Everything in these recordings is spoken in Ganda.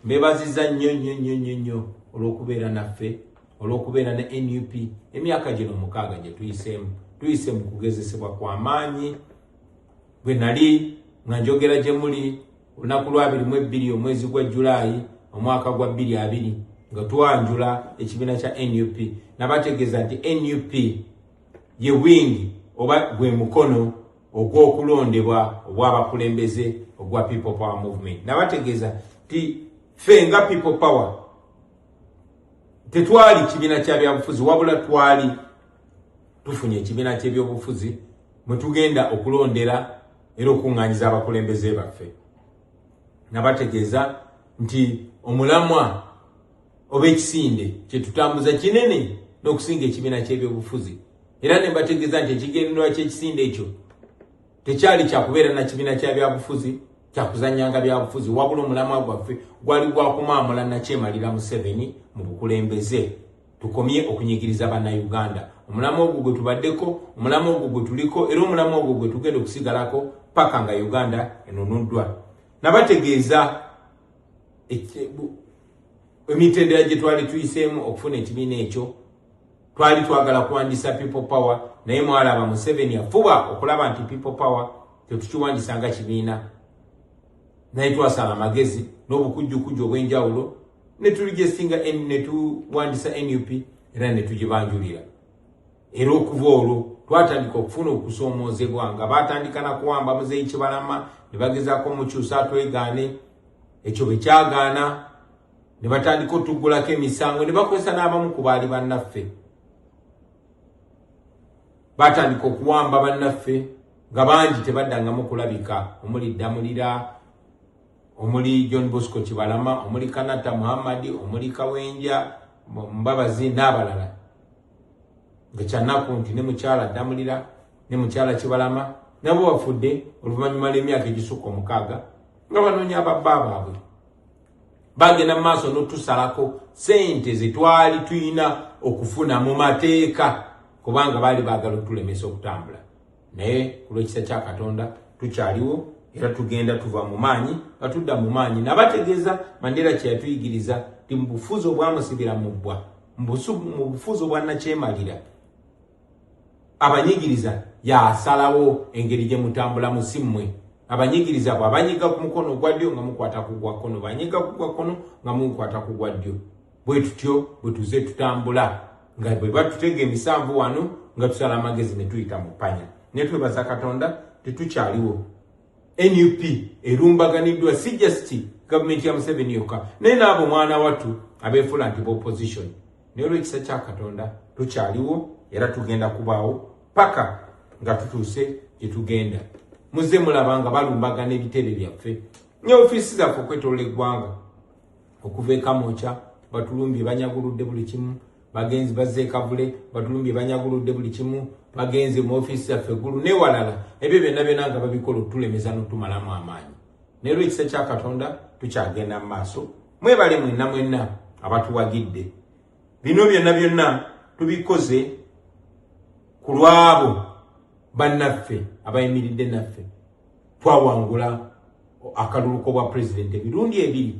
mbebaziza nnyo nnyo nnyo nnyo nnyo olw'okubeera naffe olw'okubeera ne nup emyaka gino mukaaga gye tuyiseemu tuyise mu kugezesebwa kwa maanyi bwe nali nga njogera gye muli olunaku lwabiri mu ebbiri omwezi gwa julaayi omwaka gwa bbiri abiri nga twanjula ekibiina kya nup nabategeeza nti nup ye wingi oba gwe mukono ogw'okulondebwa obw'abakulembeze ogwa people power movement nabategeeza ti fe nga people power tetwali kibiina kya byabufuzi wabula twali tufunye ekibiina ky'ebyobufuzi mwe tugenda okulondera era okuŋŋanyiza abakulembeze baffe nabategeeza nti omulamwa oba ekisinde kyetutambuza kinene n'okusinga ekibiina ky'ebyobufuzi era ne mbategeeza nti ekigendererwa ky'ekisinde ekyo tekyali kyakubeera na kibiina kya byabufuzi kyakuzanyanga byabufuzi wabula omulamwa gwaffe gwali gwakumaamula nakyemalira museveni mu bukulembeze tukomye okunyigiriza bannayuganda omulamwa ogwo gwe tubaddeko omulamwa ogwo gwe tuliko era omulamwa ogwo gwe tugenda okusigalako paka nga uganda enunuddwa nabategeeza emitendera gye twali tuyiseemu okufuna ekibiina ekyo twali twagala kuwandisa people power naye mwalaba museveni yafuba okulaba nti people power tetukiwandisa nga kibiina naye twasala amagezi n'obukujjukujju obw'enjawulo netulijesinga netuwandisa nup era netugibanjulira era okuva olwo twatandika okufuna okusoomoozebwa nga baatandika na kuwamba muzeeyi kibalama ne bagezaako mukyusa twegaane ekyo bwe kyagaana ne batandika otuggulako emisango ne bakozesa n'abamu ku baali bannaffe baatandika okuwamba bannaffe nga bangi tebaddangamu kulabika omuli ddamulira omuli john bosco kibalama omuli kanata muhammadi omuli kawenja mbabazi n'abalala ngekyannaku nti ne mukyala ddamulira ne mukyala kibalama nabo bafudde oluvannyuma lw'emyaka egisukka omukaaga nga banoonya ababba baabwe bagenda mu maaso n'otusalako sente ze twali tulina okufuna mu mateeka kubanga baali baagala okutulemesa okutambula naye ku lw'ekisa kya katonda tukyaliwo era tugenda tuva mu maanyi nga tudda mu maanyi nabategeeza mandera kye yatuyigiriza ti mu bufuzi obwamusibira mu bbwa mu bufuzi obwannakyemalira abanyigiriza yasalawo engeri gye mutambulamu si mmwe abanyigiriza bwe abanyiga ku mukono ogwa ddyo nga mukwata ku gwa kkono banyiga ku gwa kkono nga mukwata ku gwa ddyo bwe tutyo bwe tuze tutambula nga bwe batutega emisanvu wano nga tusala amagezi ne tuyita mu ppanya ne twebaza katonda tetukyaliwo nup erumbaganiddwa si just gavumenti ya museveni yokka naye naabo mwana wattu abeefuula nti bopposition naye olwekisa kya katonda tukyaliwo era tugenda kubaawo paka nga tutuuse gye tugenda muze mulaba nga balumbagana ebitebe byaffe ne ofiisi zaffe okwetolola eggwanga okuva ekamokya batulumbye banyaguludde buli kimu bagenzi bazze ekavule batulumbye banyaguludde buli kimu bagenze mu ofiisi zaffe eggulu newalala ebyo byonna byona nga babikola okutulemeza notumalamu amaanyi naye lwekisa kya katonda tukyagenda mu maaso mwebale mwenna mwenna abatuwagidde bino byonna byonna tubikoze ku lwabo bannaffe abayimiridde naffe twawangula akalulu kobwa pulezidenti emirundi ebiri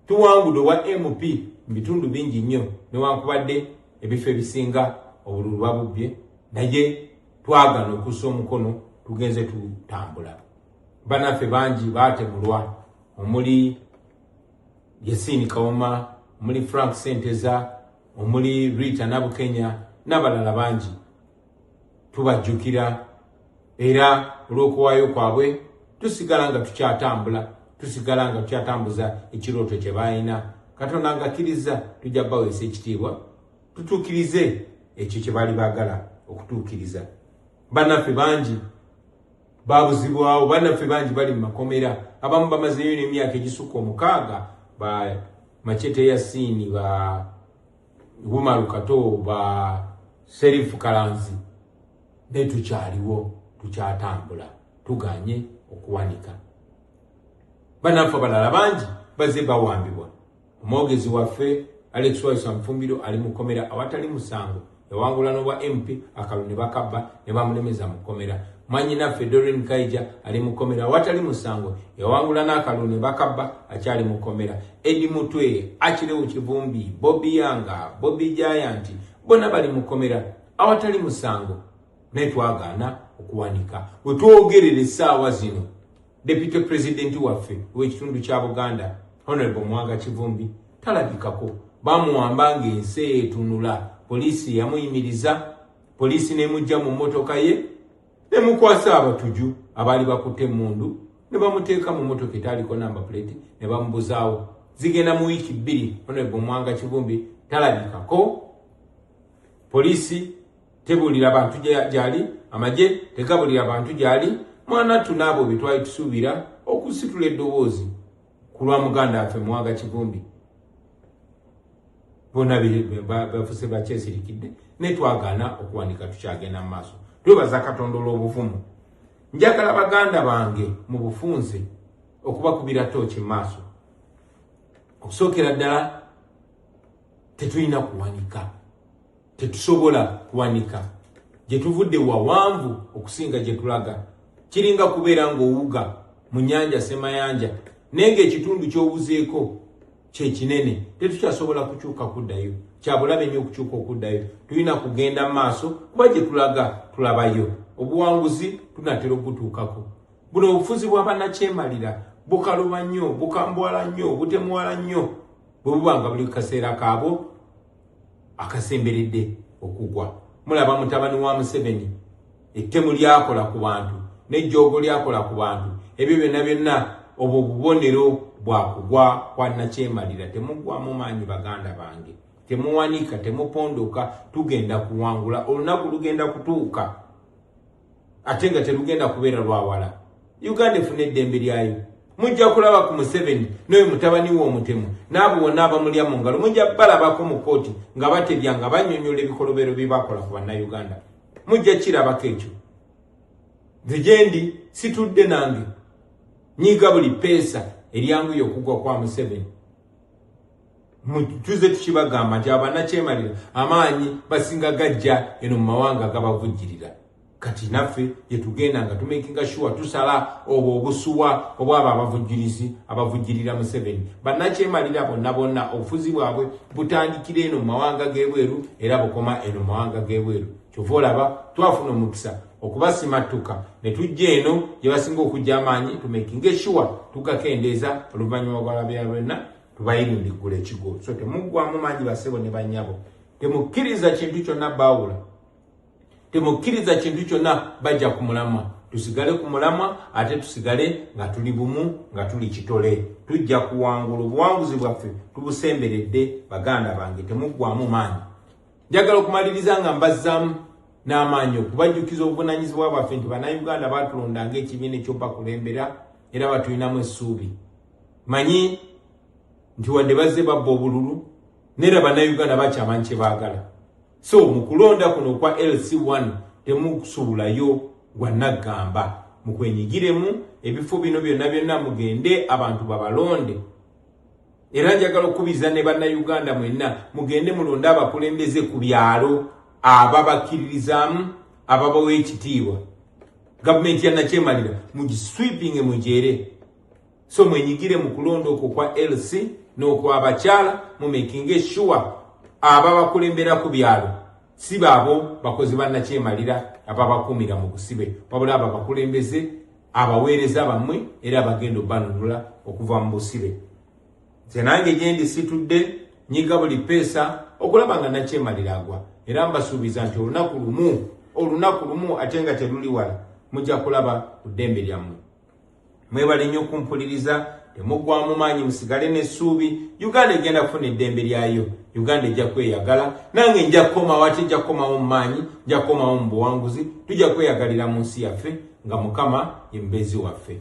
Tuwangudde obwa MP mu bitundu bingi nnyo newankubadde ebifo ebisinga obululu babubbye naye twagana okussa omukono tugenze tutambula. Banaffe bangi baatemulwa omuli Yasiini Kawuma, omuli Frank Senteza, omuli Rita Nabukenya n'abalala bangi. tubajjukira era olw'okuwaayo kwabwe tusigala nga tukyatambula tusigala nga tukyatambuza ekirooto kye balina katonda nga akkiriza tujja baweesa ekitiibwa tutuukirize ekyo kye baali baagala okutuukiriza bannaffe bangi babuzibwawo bannaffe bangi bali mu makomera abamu bamazeeyo n'emyaka egisukka omukaaga ba machete ya siini ba Umaru Kato ba Sheriff Kalanzi ne tukyaliwo tukyatambula tuganye okuwanika banaffe abalala bangi baze bawambibwa omwogezi waffe Alex Waisa Mfumbiro ali mu komera awatali musango yawangula n'obwa MP akalu ne bakabba ne bamulemeza mu komera mwanyinaffe Doreen Kaija ali mu komera awatali musango yawangula n'akalu ne bakabba akyali mu komera Edi Mutwe, Akirewu Kivumbi, Bobi Yanga, Bobi Giant bona bali mukomera awatali musango naye twagaana okuwanika wetwogerera essaawa zino deputy president waffe wekitundu kya buganda honorable mwanga kivumbi talabikako bamuwamba ngaensi etunula poliisi yamuyimiriza poliisi nemujja mu mmotoka ye ne mukwasa abatuju abaali bakutte emmundu ne bamuteeka mu motoka etaaliko namba puleti ne bamubuzaawo zigenda mu wiiki bbiri onebo mwanga kivumbi talabikako poliisi tebuulira bantu gyali amagye tegabuulira bantu gyali mwana ttu n'abo bye twali tusuubira okusitula eddoboozi ku lwa muganda waffe muwaga kivumbi bona bafuse bakyesirikidde naye twagaana okuwandika tukyagenda mu maaso twebaza katonda olw'obuvumu njagala baganda bange mu bufunze okubakubira tooki mu maaso okusookera ddala tetulina kuwanika Tetusobola kuwanika gye tuvudde wawanvu okusinga gye tulaga. Kiringa kubeera ng'owuga mu nnyanja Semayanja naye ng'ekitundu ky'owuzeeko kye kinene. Tetukyasobola kukyuka kuddayo. Kya bulabe nnyo okukyuka okuddayo. Tulina kugenda mu maaso kuba gye tulaga tulabayo. Obuwanguzi tunatera okutuukako. Buno obufuzi bwa bannakyemalira bukaluba nnyo, bukambwala nnyo, butemuwala nnyo bwe buba nga buli kaseera kaabwo. akasemberedde okugwa mulaba mutabani wa museveni ettemu lyakola ku bantu nejjoogo lyakola ku bantu ebyo byonna byonna obwo bubonero bwakugwa kwanakyemalira temugwamu maanyi baganda bange temuwanika temupondoka tugenda kuwangula olunaku lugenda kutuuka ate nga terugenda kubeera lwawala uganda efuna eddembe lyayo mujja kulaba ku museveni noyo mutabani we omutemu naabo wonna abamulya mu ngalo mujja balabako mu kooti nga batebya nga banyonyola ebikolobero byebakola ku bannauganda mujja kirabako ekyo nze gyendi situdde nange nyiga buli peesa eryanguye okugwa kwa museveni mujjuze tukibagamba nti abanakyemalira amaanyi basinga gajja eno mu mawanga gabavujjirira kati naffe gyetugenda nga tumakinga sure tusala obwo obusuwa obwabo abavujjirizi abavujjirira museveni banakyemalira bonna bonna obufuzi bwabwe butandikira eno mu mawanga g'ebweru era bukoma eno mu mawanga g'ebweru kyova olaba twafuna omukisa okubasimattuka ne tujja eno gye basinga okujja amaanyi tumakinga sure tugakendeeza oluvannyuma lwalabya lwenna tubayindiggula ekigo so temuggwamu mangi basebo ne banyabo temukkiriza kintu kyonna baawula temukkiriza kintu kyonna bajja ku mulamwa tusigale ku mulamwa ate tusigale nga tuli bumu nga tuli kitole tujja kuwangula obuwanguzi bwaffe tubusemberedde baganda bange temuggwamu maanyi njagala okumaliriza nga mbazzaamu n'amaanyi okubajjukiza obuvunanyizibwa bwaffe nti banauganda batulonda ngaekibiina ekyobakulembera era batulinamu essuubi manyi nti wadde bazze babba obululu nera bannayuganda bakyamanyi kye baagala so mu kulonda kuno okwa lc1 temusuubulayo gwa naggamba mukwenyigiremu ebifo bino byonna byonna mugende abantu babalonde era njagala okukubiza ne bannayuganda mwenna mugende mulonde abakulembeze ku byalo ababakkiririzaamu ababawa ekitiibwa Gavumenti ya nakyemalira mugiswipinge mugyere, so mwenyigire mu kulonda okwo kwa LC n'okwabakyala mumekinge shuwa ababakulembera ku byalo si baabo bakozi ba nakyemalira ababakuumira mu busibe wabula abo abakulembeze abaweereza bammwe era abagenda obanunula okuva mu busibe. nze nange gyendi situdde nyiga buli peesa okulaba nga nakyemalira agwa era mbasuubiza nti olunaku lumu olunaku lumu ate nga teluli wala mujja kulaba ku ddembe lyammwe mwebale nnyo okumpuliriza temuggwamu maanyi musigale n'essuubi uganda egenda kufuna eddembe lyayo uganda ejja kweyagala nange nja kukomawo ate nja kukomawo mu maanyi nja kukomawo mu buwanguzi tujja kweyagalira mu nsi yaffe nga mukama ye mubeezi waffe